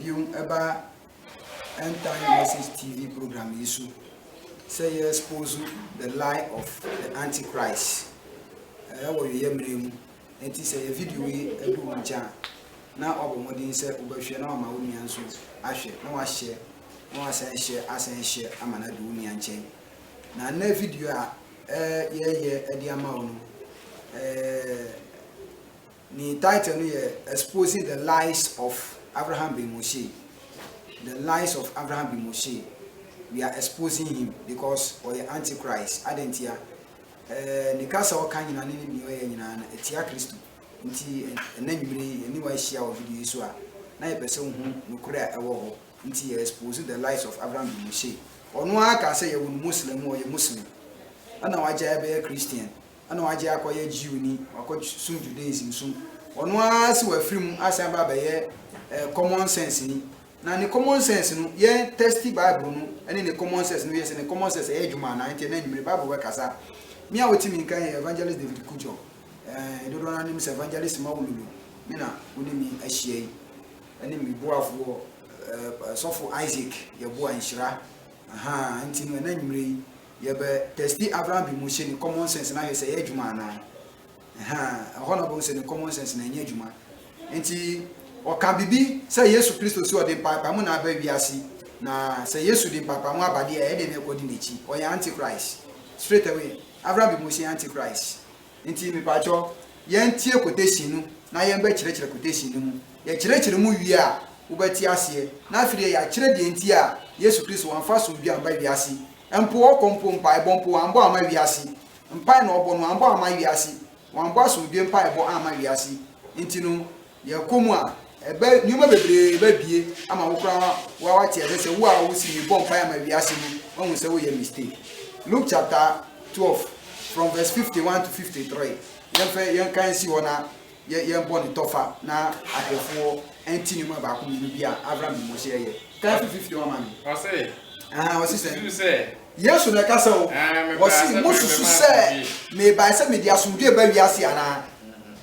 biom ba End Time Message TV program yi so sɛ yɛ expose the lie of the antichrist ɛwɔ yɛyɛ mmerɛ mu nti sɛ yɛ video yi adu wo nkyɛn a na wabɔ mmɔden sɛ wobɛhwɛ na wama wo nua nso ahwɛ na wahyɛ na wasan hyɛ asan hyɛ ama no adu wo nua nkyɛn na nnɛ video a yɛyɛ de ama wo no Ne title no yɛ Exposing the Lies of Avraham Ben Moshe, The Lies of Avraham Ben Moshe, We are Exposing Him Because Ɔyɛ Antichrist. Adɛn ntia? Ɛɛ, ne kasa a ɔka nyinaa ne ne nea ɔyɛ nyinaa no, ɛtia Kristo. Nti, ɛnna nwumere yi, yɛne wo ahyia wɔ video yi so a, na yɛpɛ sɛ wohu nokorɛ a ɛwɔ hɔ. Nti, yɛ expose the lies of Avraham Ben Moshe. Ɔno ara kaa sɛ yɛwo no Muslim, ɔyɛ Muslim, ɛnna wagyae bɛyɛ Christian. na ɔagye akɔyɛ Jewnyi, ɔakɔsom Judaism som. Ɔno ara si ɔafir mu asan aba abɛyɛ common sense nyi. Na ne common sense no, yɛn tɛsti Bible no ne ne common sense no yɛ sɛ ne common sense yɛ edwuma anaa? Nkyɛ na enyimber Bible bɛkasa. Me a otsi me nka yɛ Evangelist David Kudjo. Hɛn dodow no ara nyim sɛ Evangelist Mawululu me na ɔnye me ahyia yi, ne me boafo Sɔfo Isaac yɛboa nhyira. Aha, ntsi no, nna enyimber yi, Yɛbɛ testi Abraham bi mu se ne common sense no ayɛ sɛ ɛyɛ adwuma anaa. Ɛhaa, ɛhɔ na ɔbɛhu sɛ ne common sense no ɛnyɛ adwuma. Enti, ɔka biribi sɛ Yesu Kristo se ɔde mpaapaemu na aba wiase, na sɛ Yesu de mpaapaemu aba deɛ a, ɛdeɛ na ɛkɔdi n'akyi. Ɔyɛ anti-Christ. Straight away, Abraham bi mu se anti-Christ. Ntsi mepakyɛw, yɛntsie quotation no na yɛmbɛkyerɛkyerɛ quotation no mu. Yɛkyerɛkyerɛ mu wie a, wobɛtse aseɛ. Na afei deɛ yɛakyerɛ deɛ ntsi a Yesu Kristo ɔammfa somdwe ammba wiase. Mpo ɔkɔ mpo, mpaebɔ mpo, ɔammbɔ amma wiase. Mpae na ɔbɔ no, ɔammbɔ amma wiase. Ɔammbɔ asomdwe mpaebɔ amma wiase. Ntsi no. Yɛkɔ mu a, ɛbɛ, nneɛma bebree bɛbue ama wo koraa wa, wate aseɛ sɛ wo a wosi mi bɔ mpaeɛ ama wiase no, wahu sɛ woyɛ mistake. Luke chapter 12 from verse 51 to 53. Yɛmfɛ, yɛnka nsi hɔ na yɛ, yɛbɔ ne tɔfa na ahwɛfoɔ ɛnti nneɛma baako mmienu bi a Avram de Mose ɛyɛ. Kan fi 51 ma me. Ɔse, Aha, ɔse sɛ. Susu sɛ. Yesu na ɛka sɛ o. Aa, mebae Ɔse, sɛ mebɛma mosusu sɛ asomdwie. mebae sɛ mede asomdwie ba wiase anaa?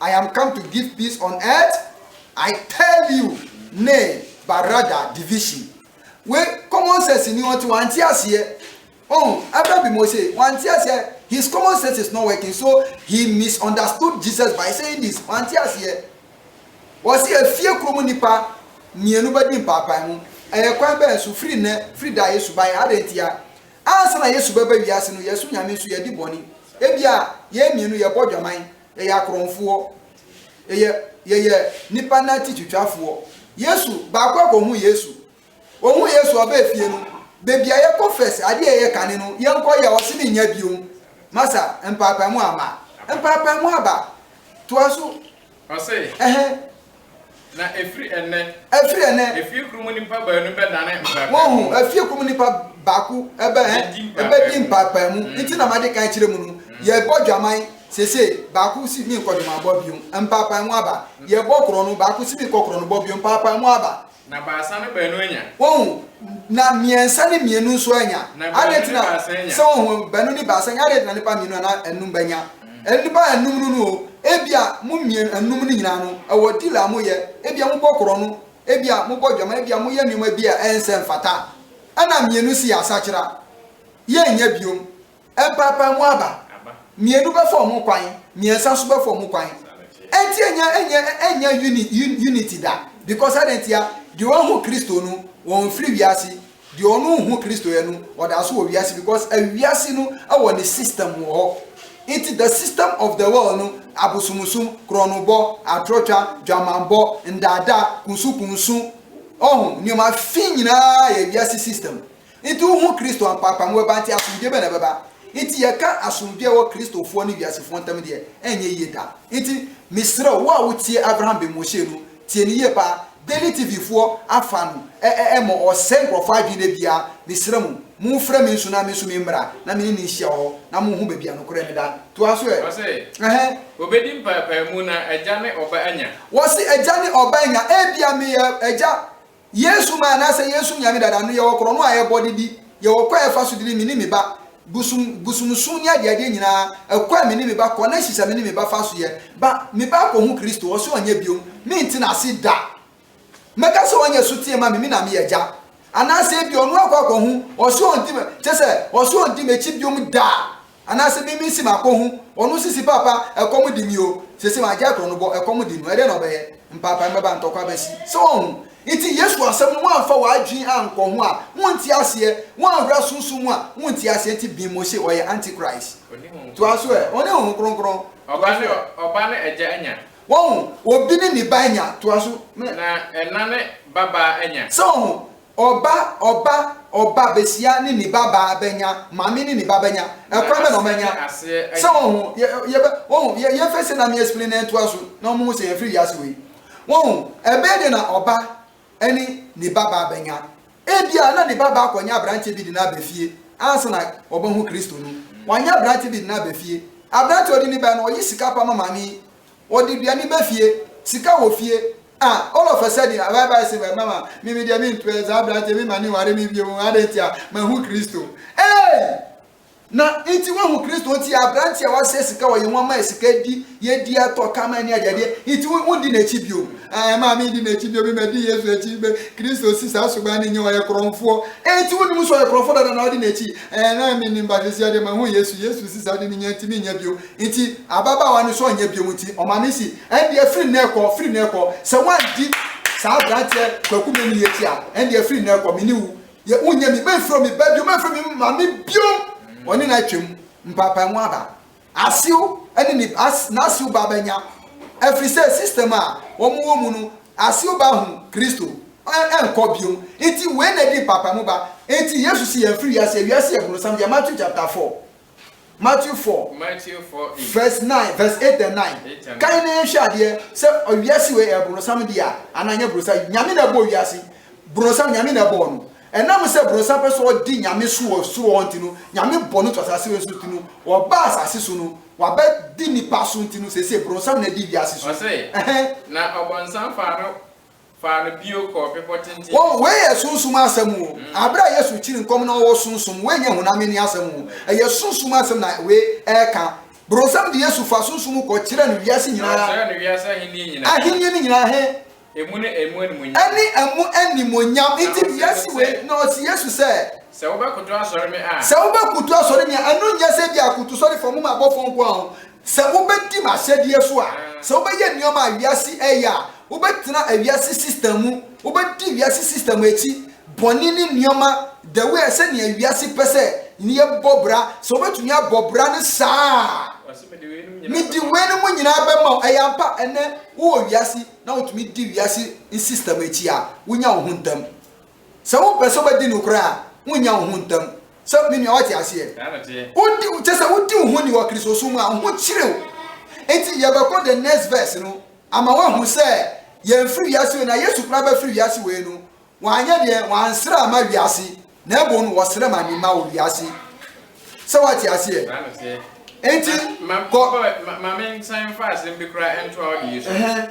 I am come to give peace on earth I tell you ne Barada division wei common sense ni ɔnti wante aseɛ oh ɛbɛ bi mo se wante aseɛ his common sense is not working so he misunderstood Jesus by saying this wante aseɛ wɔsi efie kurom nipa mmienu bɛdi mpaapae mu ɛyɛ kwan bɛyɛ nso firi nnɛ firi da Yesu ban adɛ ntia ansa na Yesu bɛba wiase no yɛso nyame nso yɛdi bɔne ebia yɛn mmienu yɛbɔ dwaman Yɛyɛ akorɔnfoɔ. Yɛyɛ, yɛyɛ nnipa nan ti twitwafoɔ. Yesu, baako a kɔhuu Yesu. Ɔhuu Yesu a ɔbaa fie no, baabi a yɛkɔ first, adeɛ a yɛyɛ kane no, yɛnkɔ yɛ a, ɔse mennya biom. Masa, mpaapaemu ama. Mpaapaemu aba. Toa so. Ɔse, Ɛhɛn. Na ɛfiri ɛnnɛ. Ɛfiri ɛnnɛ. Efie koro mu nnipa baanu bɛdane mpaapaemu. Wohu, efie koro mu nnipa baako bɛ, ɛ, bɛdi mpaapaemu. Nti na made kan kyerɛ mu no, yɛrebɔ dwaman seesei, baako se menkɔ dwamanbɔ bio, mpaapaemu aba. Yɛrebɔ korɔno, baako se menkɔ korɔnobɔ bio, mpaapaemu aba. Na baasa ne baanu anya. Wɔhu, na mmiɛnsa ne mmienu nso anya. Na baanu ne baasa anya. Sɛ wɔhu, baanu ne baasa anya, adɛn nti na nnipa mmienu anaa anum bɛnya? Nnipa anum no no o, ebia mo mmienu, anum no nyinaa no, ɛwɔ deal a moyɛ, ebia mobɔ korɔno, ebia mobɔ dwama, ebia moyɛ nneɛma bi a ɛnsɛ mfata, ɛna mmienu si yɛ asakyera, yɛnnya biom. Ɛmpaapae mu aba. Mmienu bɛfa wɔn kwan, mmiɛnsa nso bɛfa wɔn kwan. Ɛnti ɛnyɛ ɛnyɛ ɛnyɛ uni unity da because adɛn ntia? Deɛ wɔahu Kristo no wɔnfiri wiase, deɛ ɔno nhu Kristo yɛ no ɔda so wɔ wiase because awiase no wɔ ne system wɔ hɔ. Nti the system of the world no abosomsom, korɔnobɔ, atorɔtwa, dwamanbɔ, ndaadaa, kunsukunsu, ɔho, nneɛma fi nyinaa yɛ wiase system. Enti wohu Kristo ampa a, pamuwa ba nti asomdwoe bɛn na ɛbɛba? Enti yɛka asomdwoe a ɛwɔ Kristofoɔ ne wiasefoɔ ntam deɛ, ɛnyɛ yie da. Enti mesrɛ wo, wo a wotie Avraham Ben Moshe no, tie no yie paa. Daily TV foɔ afa no ɛmɔ ɔsɛe nkurɔfoɔ adwene da biara. Mesrɛ mo, monfrɛ me nso na me nso memmra na me ne no nhyia wɔ hɔ na mohu baabi a nokorɛ no da. Toa so ɛ. Ɔse, Ɛhɛn. Wɔbɛdi mpaapaemu na Agya ne Ɔba anya. Wɔse, Agya ne Ɔba anya. Ebia meyɛ Agya Yesu maa na sɛ yɛresu Nyame dada no yɛwɔ korɔno a yɛbɔ de di, yɛwɔ kwan a yɛfa so de ne me ne me ba, bosom bosomsom ne adeadeɛ nyinaa, ɛkɔ a me ne me ba kɔ ne hyehyɛ me ne me ba fa so yɛ, ba, me ba akɔhu Kristo, ɔse ɔnyɛ biom, mente n'ase da, mɛka sɛ ɔnyɛ soteɛ ma me, me na meyɛ agya, anaasɛ ebia ɔno akɔ akɔhu, ɔse ɔnte, kyerɛ sɛ, ɔse ɔnte m'akyi biom da. Anase me me si ma kɔ hu ɔno sisi papa ɛkɔm di me o sese ma gya ɛkorɔ no bɔ ɛkɔm di no ɛdɛ na ɔbɛyɛ mpapae mɛba ntɔkwa bɛsi sɛ wɔ hu nti yesu asɛm no wanfa wɔ adwene ankɔ ho a wo nti aseɛ wo anhura sunsum mu a wo nti aseɛ nti bin mo se ɔyɛ anti christ toa so ɛ ɔne honhom kronkron toa so ɛ ɔba ne ɛgya anya wɔ hu obi ne ne ba anya toa so mɛ na ɛna ne ba baa anya sɛ wɔ hu Ɔba, ɔba, ɔba besia ne ne ba baa bɛnya, maame ne ne ba bɛnya, ɛkwan bɛn na wɔn anya? Sɛ wɔn ho, yɛ, yɛ, wɔn ho, yɛ, yɛ fɛ sɛ na me explain na ɛtoa so na wɔn ho sɛ yɛn firi wiase wei. Wɔn ho, ɛbɛyɛ deɛ na ɔba ɛne ne ba baa bɛnya. Ebia na ne ba baa kɔ nyɛ abranteɛ bi de no abɛ fie ansa na wɔbɛ ho Kristo no. Wɔn nyɛ abranteɛ bi de no abɛ fie. Abranteɛ ɔde ne bɛ no ɔyi sika pa ma maame yi, ɔde aduane bɛ fie, sika wɔ fie. Ah all of a sudden a bye-bye se bye mama me me deɛ me mpɛ saa abranteɛ me ma ne nware me bio adɛn nti a mahu Kristo eei. Na nti wahu Kristo nti abranteɛ a wasɛ sika wɔ yɛn ho ama yɛ sika di yɛ di atɔ ka ma ne adeɛ adeɛ nti wo wo di n'akyi bio ah ɛma me di n'akyi bio me ma di Yesu akyi bɛ Kristo si saa suban ne nyɛ ɔyɛ korɔnfoɔ eei nti wo nim so ɔyɛ korɔnfoɔ dada na ɔde n'akyi eh na me nim but sisi adeɛ mahu Yesu Yesu si saa de ne nyɛ nti me nyɛ bio Enti ababaawa no sɔɔ nyɛ biom nti ɔma me si. Ɛndeɛ firi nnɛ rekɔ, firi nnɛ rekɔ, sɛ woandi saa abranteɛ Kwaku Manu yi akyi a, ɛndeɛ firi nnɛ rekɔ, me ne wo yɛ, wonyɛ me, mɛmfrɛ me ba biom, mɛmfrɛ me maame biom. Ɔne no atwam mpaapaemu aba. Asew ne ne ba, n'asew ba bɛnya, ɛfiri sɛ system a wɔwɔ mu no, asew ba ahu Kristo, ɛnkɔ biom. Enti wei na ɛdi mpaapaemu ba. Enti Yesu se yɛmfiri wiase, wiase yɛ bronsam, deɛ Matthew chapter four, Matthew four verse nine verse eight and nine kan na yɛnhwɛ adeɛ sɛ ɔwiase wei ɛyɛ borosam deɛ a anaa nyɛ borosam nyame na ɛbɔ wiase borosam nyame na ɛbɔ no ɛnam sɛ borosam pɛ sɛ ɔdi nyame so wɔ soro hɔ nti no nyame bɔ no to asase wei so nti no ɔba asase so no waba di nipa so nti no sese borosam na ɛdi wiase so ɔsɛ na ɔbɔnsam fa no Faa no bio kɔɔ bepɔ tenten bi so. Wei yɛ sunsum asɛm o. Aberɛ a Yesu rekyiri nkɔm no ɔwɔ sunsum, wei nyɛ honam ani asɛm o. Ɛyɛ sunsum asɛm na wei reka. Bronsam de Yesu faa sunsum mu kɔ kyerɛɛ no wiase nyinaa. Na ɔkyerɛɛ no wiase ahennie nyinaa. Ahennie no nyinaa he. Emu ne emu animuonyam. Ɛne emu animuonyam. Nti wiase wei, na ɔse Yesu sɛ. Sɛ wobɛkoto asɔre me a. Sɛ wobɛkoto asɔre me a, ɛno nyɛ sɛ ebia akotusɔre fam ma abɔfoɔ nko ara o. Sɛ wobɛdi m'ahyɛdeɛ so a, sɛ wobɛyɛ nneɛma a wiase reyɛ a, wobɛtena wiase system mu, wobɛdi wiase system akyi, bɔne ne nneɛma the way sɛdeɛ wiase pɛ sɛ yɛbɔ bra, sɛ wobɛtumi abɔ bra no saa a, mede weinom nyinaa bɛma wo. Ɛyɛ ampa, ɛnnɛ wowɔ wiase na wotumi di wiase system akyi a, wonya wo ho ntɛm. Sɛ wopɛ sɛ wobɛdi nokorɛ a, wonnya wo ho ntam. Sɛ, me nua, woate aseɛ? Wodi, kyerɛ sɛ, wodi wo ho ni wɔ Kristosom mu a, wo ho kyere wo. Enti yɛbɛkɔ the next verse no ama woahu sɛ yɛmfiri wiase wei, na Yesu koraa bɛfiri wiase wei no, wanyɛ deɛn? Wansrɛ amma wiase, na mmom no, ɔsrɛ ma ne mma wɔ wiase. Sɛ woate aseɛ? Enti, kɔ. Ɛhɛn.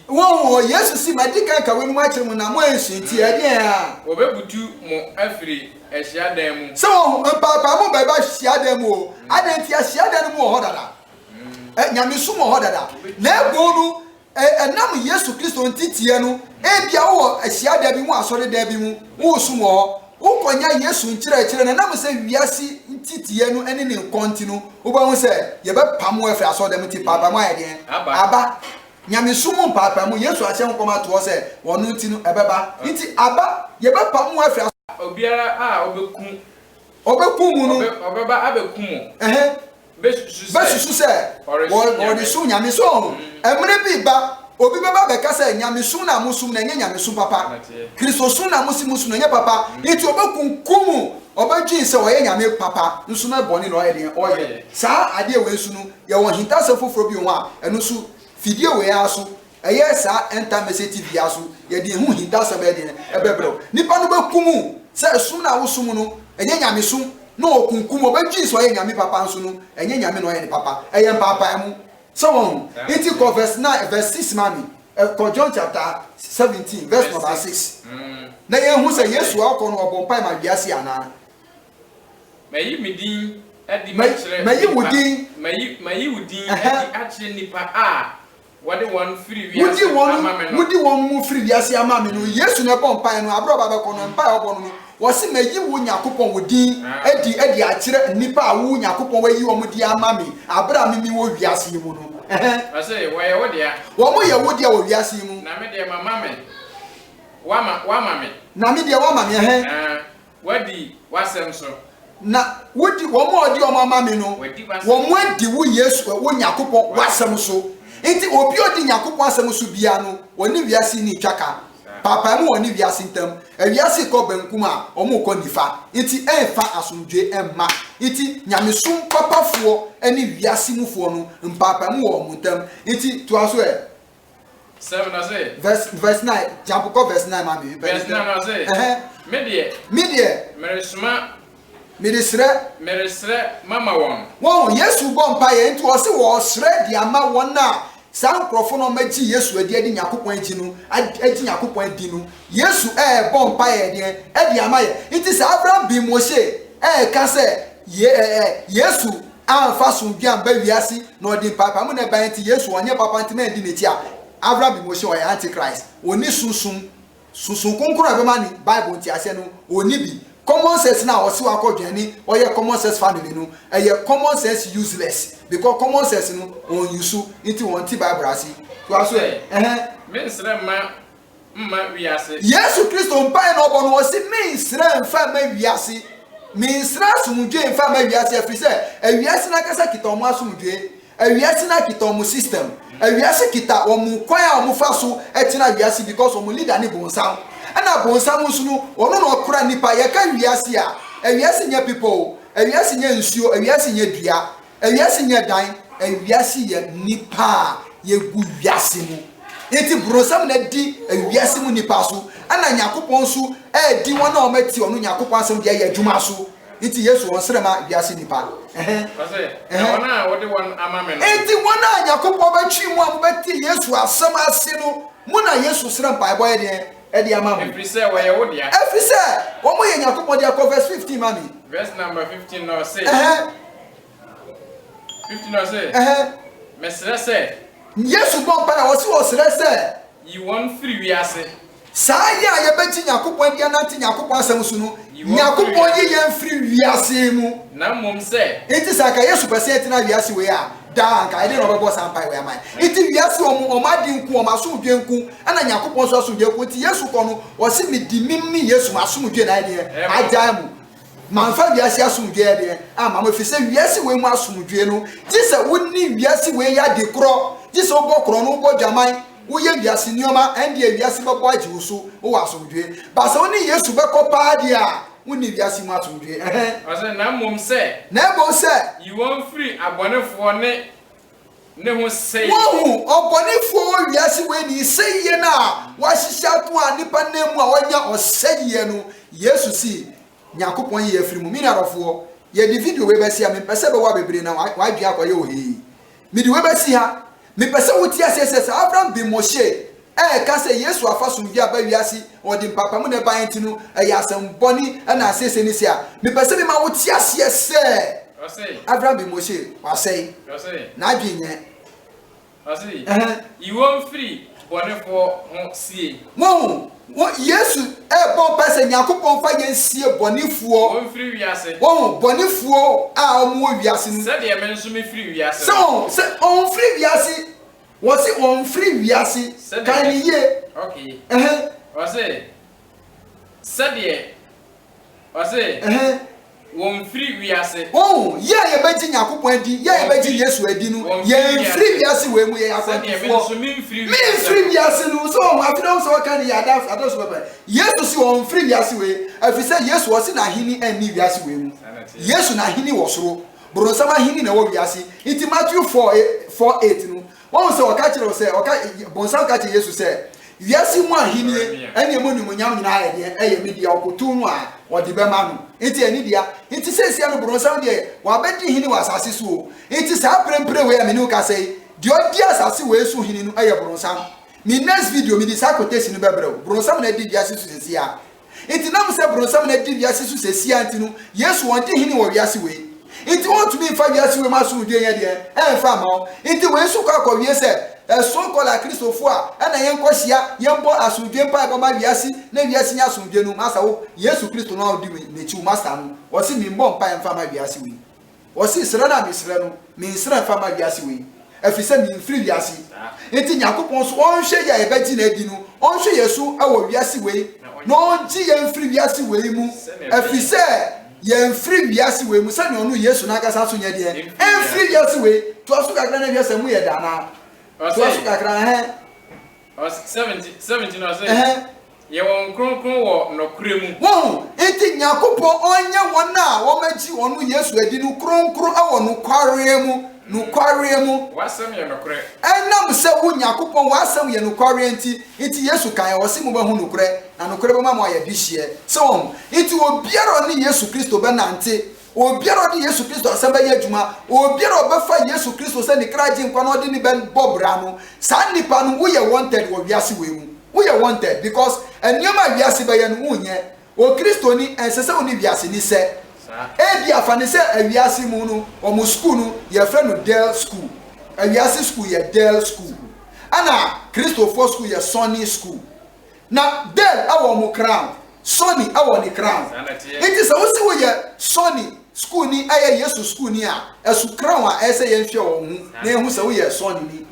Wɔn hɔ, Yesu se, Madi kan aka weinom akyere mo, na moansua nti, ɛneɛ a. Wɔbebutu mo afiri ahyiadan mu. Sɛ wɔn ho, mpaapaa mo bɛba ahyiadan mu o. Adɛn nti? Ahyiadan no mu wɔ hɔ dada. Nyamesom wɔ hɔ dada. Na ɛbon no, ɛnam Yesu Kristo nteteɛ no, ebia wowɔ ahyiadan bi mu, asɔredan bi mu, woresom wɔ hɔ, wokɔnya Yesu nkyerɛkyerɛ, na ɛnam sɛ wiase nteteɛ no ne ne nkɔn nti no, wobɛhu sɛ yɛbɛpam wo afiri asɔredan mu nti, mpaapaa mo ayɛ deɛn? Aba. Nyamesom mu mpaapaemu, Yesu ahyɛ nkɔm ato hɔ sɛ wɔno nti no ɛbɛba. Nti aba, yɛbɛpam mo afi asɔre. Obiara a ɔbɛku. Ɔbɛku mo no. Ɔbɛba abɛku mo. Ɛhɛ. Bɛsusu sɛ. Bɛsusu sɛ. Ɔresu Nyame. So ɔho? Ɛmmerɛ bi reba, obi bɛba abɛka sɛ, Nyamesom no a mosom no, ɛnyɛ Nyamesom papa. Kristosom no a mose mosom no, ɛnyɛ papa. Nti ɔbɛkunkum mo. Ɔbɛdwen sɛ ɔyɛ Nyame papa, nso na bɔne na ɔyɛ deɛn? Ɔyɛ. Saa adeɛ wei nso no, Yɛwɔ ahintasɛm foforɔ bio ho a, ɛno nso fidie wei ara so, ɛyɛ saa End-Time Message TV yi ara so, yɛde yɛn ho hintasɛm bɛyɛ deɛn? Ɛbɛbrɛ wo. Nnipa no bɛkum wo sɛ som no a wosom no, ɛnyɛ nyamesom, na wɔkunkum wo, wɔbɛgye sɛ ɔyɛ nyame papa nso no, ɛnyɛ nyame na ɔyɛ no papa, ɛyɛ mpaapaemu. Sɛ woahu? Nti kɔ verse nine, verse six ma me, kɔ John chapter seventeen verse number six, na yɛnhu sɛ Yesu a ɔkɔ no ɔbɔ mpae ma wiase anaa? Mayi me din adi Mayi- akyerɛ mayi wo nnipa- din. Mayi, mayi wo din Ɛhɛ. adi akyerɛ nnipa a wɔde wɔn firi Wodi wiase wɔn ama me no. wodi wɔn mu firi wiase ama me no. Yesu na ɛbɔ mpaeɛ no. Aberɛ a ɔba bɛkɔ no, mpaeɛ a ɔbɔ no no, ɔse mayi wo Nyakopɔn wo din Ah. adi adi akyerɛ nnipa a wo Nyakopɔn wayi wɔn din ama me aberɛ a mimi wɔ wiase yi mu no. Ɛhɛ. Ɔse wɔyɛ wo dea, Wɔn yɛ wo dea wɔ wiase yi mu. na me deɛ mama me, woama, woama me. Na me deɛ woama me. Ɛhɛ. Ah, Woadi w'asɛm so. Na wodi wɔn a wɔde wɔn ama me no, W'adi w'asɛm so. wɔn adi wo Yesu, ɛ, wo Nyankopɔn w'asɛm so. Enti obi a odi Nyankopɔn asɛm so biara no, ɔne wiase nni ntwa ka. Paapae mu wɔ ɔne wiase ntam. Ɛ, wiase rekɔ benkum a, wɔrekɔ nifa. Enti ɛmfa asomdwoe mma. Enti nyamesom papafoɔ ne wiase mufoɔ no, mpaapaemu wɔ wɔn ntam. Enti toa so ɛ. 7 ɔse. Verse verse 9 jump kɔ verse 9 ma me mepɛ Verse 9 ɔse. Ɛhɛn. Me deɛ. Me deɛ. Meresoma. Mede srɛ. Meresrɛ mama wɔn. Wɔn, Yesu bɔ mpaeɛ nti ɔse ɔresrɛ de ama wɔn a saa nkorɔfo no ɔmo agye Yesu adi ɛde Nyankopɔn agye no agye Nyankopɔn adi no Yesu ɛɛbɔ mpaeɛ ɛdeɛn ɛde ama yɛ nti sɛ Abraham bin Moshe ɛɛka sɛ ye ɛɛ Yesu Amfa asomdwie amba wiase na ɔde mpaapaemu na ɛbae ntsi Yesu ɔnnyɛ papa ntsi mɛnndi n'etsi a Avram Bimoshe ɔyɛ antichrist onnyi sunsum Sunsum Kronkron a ɔbɛma ne Bible ntseasee no onnyi bi Common sense no a ɔse ɔakɔ dwen ne ɔyɛ common sense family no ɛyɛ common sense useless because common sense no ɔnnuse ntsi ɔnntse Bible ase Toa so ɛ, ɛhɛn. Mensrɛ mma mma wiase. Yesu Kristo mpae na ɔbɔ no, ɔse, Mennsrɛ mfa mma wiase, mennsrɛ asomdwoe mfa mma wiase, ɛfiri sɛ awiase no ankasa kita wɔn asomdwoe, awiase no kita wɔn system, awiase kita wɔn kwan a wɔfa so tena wiase because wɔn leader ne bonsam, ɛna bonsam nso no ɔno na ɔkora nnipa, yɛka wiase a, awiase nyɛ bepɔ o, awiase nyɛ nsuo, awiase nyɛ dua, Ewiase nyɛ dan, ewiase yɛ nnipa a yegu wiase mu. Enti bronsam na edi ewiase mu nnipa so, ɛna Nyankopɔn nso redi wɔn a wɔatie ɔno Nyankopɔn asɛm de ayɛ adwuma so. Enti Yesu ɔnsrɛ ma wiase nnipa. Ɛhɛn. Ɔse, Na wɔn a wode wɔn ama me no. Enti wɔn a Nyankopɔn bɛtwe mo a mobɛte Yesu asɛm ase no, mo na Yesu srɛ mpaebɔ yɛ deɛn? de ama mo. Ɛfiri sɛ wɔyɛ wo dea. Ɛfiri sɛ wɔyɛ Nyankopɔn dea. Kɔ verse fifteen ma me. Verse number fifteen na ɔse. Ɛhɛn. Fifteen na ɔse. Ɛhɛn. Mesrɛ sɛ. Yesu bɔ mpae a ɔse ɔsrɛ sɛ. Yi wɔn firi wiase. Saa yɛ a yɛbɛgye Nyankopɔn adi anante Nyankopɔn asɛm so no, Nyankopɔn yi yɛn firi wiase mu. Na mmom sɛ. Enti sɛ anka Yesu pɛ sɛ yɛtena wiase wei a. daa anka ɛdeɛn na ɔbɛbɔ saa mpaeɛ wei ama yɛn nti wiase wɔn wɔn ade nko wɔn asomdwe nko ɛna nyankopɔn nso asomdwe nko nti yesu kɔ no ɔsi mi di mim ne yesu ma asomdwe na ɛdeɛ agyae mu manfa wiase asomdwe ɛdeɛ ama mo efi sɛ wiase wei mu asomdwe no gye sɛ wonni wiase wei yɛ ade korɔ gye sɛ wobɔ korɔ no wobɔ dwaman woyɛ wiase nneɛma ɛndeɛ wiase bɛbɔ agye wo so wowɔ asomdwe baasa wo ne yesu bɛkɔ paa deɛ a Wonni wiase mu asomdwoe. Ɛhɛ. Ɔse, na mmom sɛ. Na mmom sɛ. Yi wɔn firi abɔnefoɔ ne ne ho sɛie. Woahu, ɔbɔnefoɔ wɔ wiase wei ni, sɛieɛ no a wɔahyehyɛ ato a nnipa nam mu a wɔanya ɔsɛieɛ no, Yesu se, Nyankopɔn yi yɛ afiri mu. Mini adɔfoɔ, yɛde video wei bɛse a, mempɛ sɛ ɛbɛwa bebree na w'adwene akɔyɛ ohee. Mede wei bɛsi ha. Mepɛ sɛ wote aseɛ sɛ saa Avram bin Moshe a ɛka sɛ Yesu afa somdwoeɛ aba wiase na ɔde mpaapaemu na ɛbaeɛ nti no yɛ asɛmmɔne na asiesie ne se a, mepɛ sɛ mema wote aseɛ sɛ Avram bin Moshe, wasɛe. N'adwene nyɛ. Ɔse, Yi wɔn firi bɔnefoɔ ho sie. Moahu? Wɔ Yesu rebɔ mpae sɛ Nyankopɔn fa yɛn nsie bɔnefoɔ Wɔn mfiri wiase. wɔ ho, bɔnefoɔ a wɔn wɔ wiase no mu. Sɛdeɛ me nso me firi wiase Sɛ no. wɔn, sɛ wɔn mfiri wiase, wɔ se wɔn mfiri wiase, Sɛdeɛ kae me, no yie, okay, ɛhɛn. wɔ se, sɛdeɛ Ɔse, wɔnfiri wiase. Woahu? Yɛ a yɛbɛgye Nyankopɔn adi, yɛ a yɛbɛgye Yesu adi no, yɛnfiri wiase wei mu, yɛyɛ akwantufoɔ. Menfiri wiase no mu. So woahu? Afei na wohu sɛ wɔka no yɛ ada, ada so pɛpɛ. Yesu se ɔnfiri wiase wei, ɛfiri sɛ Yesu, ɔse n'aheni nni wiase wei mu. Yesu n'aheni wɔ soro. Boronsam aheni na ɛwɔ wiase. Nti Matthew four, four eight no, Woahu sɛ ɔka kyerɛ wo sɛ, ɔka, Bonsam ka kyerɛ Yesu sɛ, Wiase yi mu ahenni ne emu animuonyam nyinaa yɛ deɛ, ɛyɛ me dea, ɔkotow no a, ɔde bɛma no. Enti ɛyɛ ne dea. Enti seesei no, Bonsam deɛ, wabɛdi hene wɔ asase so o. Enti saa mprempren wei a me ne wo kasa yi, deɛ ɔdi asase wei so hene no yɛ Bonsam. Me next video, mede saa quotation no bɛbrɛ wo. Bonsam na adi wiase so seesei a, Enti na ɛwom sɛ Bronsam na adi wiase so seesei nti no, Yesu wɔn di hene wɔ wiase wei. Enti wɔntumi mfa wiase wei mu asomdwoe nyɛ deɛn ɛmfa mma wɔn. Enti wei nso kɔ akɔwie sɛ, ɛsono kɔ la Kristofo a ɛna yɛnkɔ hyia, yɛmbɔ asomdwoe mpaebɔ mma wiase na wiase nya asomdwoe no. Masa wo, Yesu Kristo no a odi me n'akyi, wo Masta no, ɔse memmɔ mpaeɛ mfa mma wiase wei. Ɔse srɛ no a mesrɛ no mensrɛ mfa ma wiase wei ɛfisɛ menfiri wiase nti Nyankopɔn nso ɔnhwɛ yɛ a yɛbɛgye no adi no ɔnhwɛ yɛ so wɔ wiase wei na ɔngye yɛn mfiri wiase wei mu ɛfisɛ yɛnfiri wiase wei mu sɛdeɛ ɔno Yesu no ankasa nso nyɛ deɛn ɛnfiri wiase wei toa so kakra na hwɛ sɛ mu yɛ dɛ anaa toa so kakra ɛhɛn Ɔse seventeen seventeen no ɔse Ɛhɛn. yɛ wɔn kronkron wɔ nɔkorɛ mu. Wohu? Enti Nyankopɔn ɔnyɛ wɔn a wɔagye Ɔno Yesu adi no kronkron wɔ nokwareɛ mu, nokwareɛ mu. W'asɛm yɛ nɔkorɛ. Ɛnam sɛ wo, Nyankopɔn, w'asɛm yɛ nokwareɛ nti, nti Yesu kaeɛ, ɔse mobɛhu nokorɛ, na nokorɛ bɛma mo ayɛ dehyeɛ. So wohu? Nti obiara a ɔne Yesu Kristo bɛnante Obiara a ɔde Yesu Kristo asɛm bɛyɛ adwuma, obiara a ɔbɛfa Yesu Kristo sɛ ne kra agyenkwa na ɔde no bɛbɔ bra no, saa nnipa no, woyɛ wanted wɔ wiase wei mu. Woyɛ wanted because nneɛma a wiase bɛyɛ no, wonyɛ. Okristoni, ɛnsɛ sɛ wo ne wiase ni sɛ. Ebia fa no sɛ wiase mu no, wɔn sukuu no, yɛfrɛ no Dell School. Wiase sukuu yɛ Dell School, ɛnna Kristofoɔ sukuu yɛ Sony School. Na Dell wɔ ɔmo crown, Sony wɔ ne crown. Nti sɛ wose woyɛ Sony sukuuni ɛyɛ Yesu sukuuni a, ɛso crown a ɛsɛ yɛn hwɛ wɔn ho na yɛn hu sɛ woyɛ Sony ni.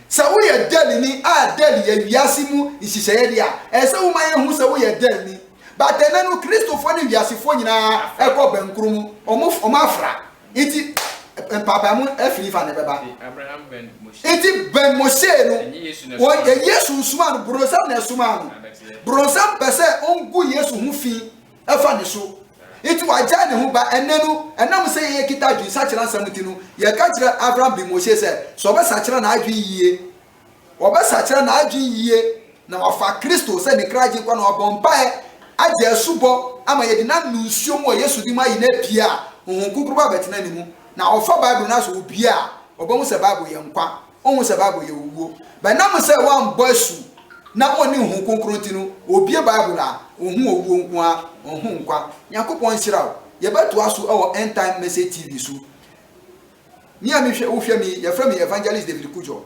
Sɛ woyɛ Dell ni a Dell yɛ wiase mu nhyehyɛeɛ deɛ a, ɛsɛ wo ma yɛn hu sɛ woyɛ Dell ni. But ɛnɛ no Kristofoɔ ne wiasefoɔ nyinaa ɛkɔ bɛnkoro mu, ɔmo ɔmo afra. Ntsi mpaapaamu efir fa na ebɛba. Ntsi bɛn Moshe no, ɔnnyɛ Yesu nsomaa no, bronsam na ɛsomaa no. Bronsam pɛ sɛ ongu Yesu ho fi fa ne so. Ntsi ɔagyae ne ho ba. Ɛnnɛ no, ɛnam sɛ yekita adwensakyera nsɛm ntsi no, yɛka kyerɛ Avram bi Moshe sɛ, sɛ ɔbɛsakyera n'adwen yie Wɔbɛsakyera n'adwene yie na wafa Kristo sɛ ne kra Agyenkwa na wabɔ mpaeɛ agye asubɔ ama yɛde no anom nsuo mu wɔ Yesu din mu ayi no apie a Honhom Kronkron ba bɛtena ne mu. Na ɔfa Bible no asɔ obi a, ɔbɛhu sɛ Bible yɛ nkwa, ɔnhu sɛ Bible yɛ owuo. Bɛnam sɛ woambɔ asu na ɔnni Honhom Kronkron nti no, obie Bible a, ɔhu owuo nko ara, ɔnhu nkwa. Nyankopɔn nhyira wo. Yɛbɛtoa so wɔ End Time Message TV so. Me a mehwɛ wo hwɛ me yi yɛfrɛ me Evangelist David Kudjo.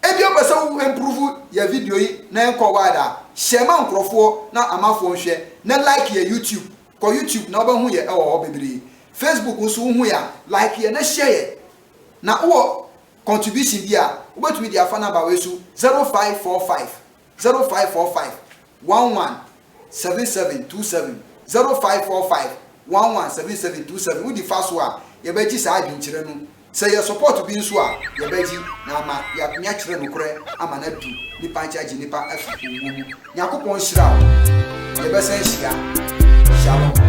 Ebia wopɛ sɛ wo improve yɛ video yi na ɛnkɔ wide a, share ma nkorɔfoɔ na amafoɔ nhwɛ na like yɛ YouTube, kɔ YouTube na wobɛho yɛ ɛwɔ hɔ bebree. Facebook nso wohu yɛ a like yɛ na share yɛ. Na wowɔ contribution bi a wobɛtumi de afa number wei so 0545. zero five four five one one seven seven two seven zero five four five one one seven seven two seven wodi fa so a yɛbɛgye saa adwenkyerɛ no sɛ yɛ support bi nso a yɛbɛgye na ama yɛatumi akyerɛ nokorɛ ama no adu nipa nkye agye nipa afi owuo mu Nyankopɔn nhyira wo yɛbɛsan ahyia Shalom.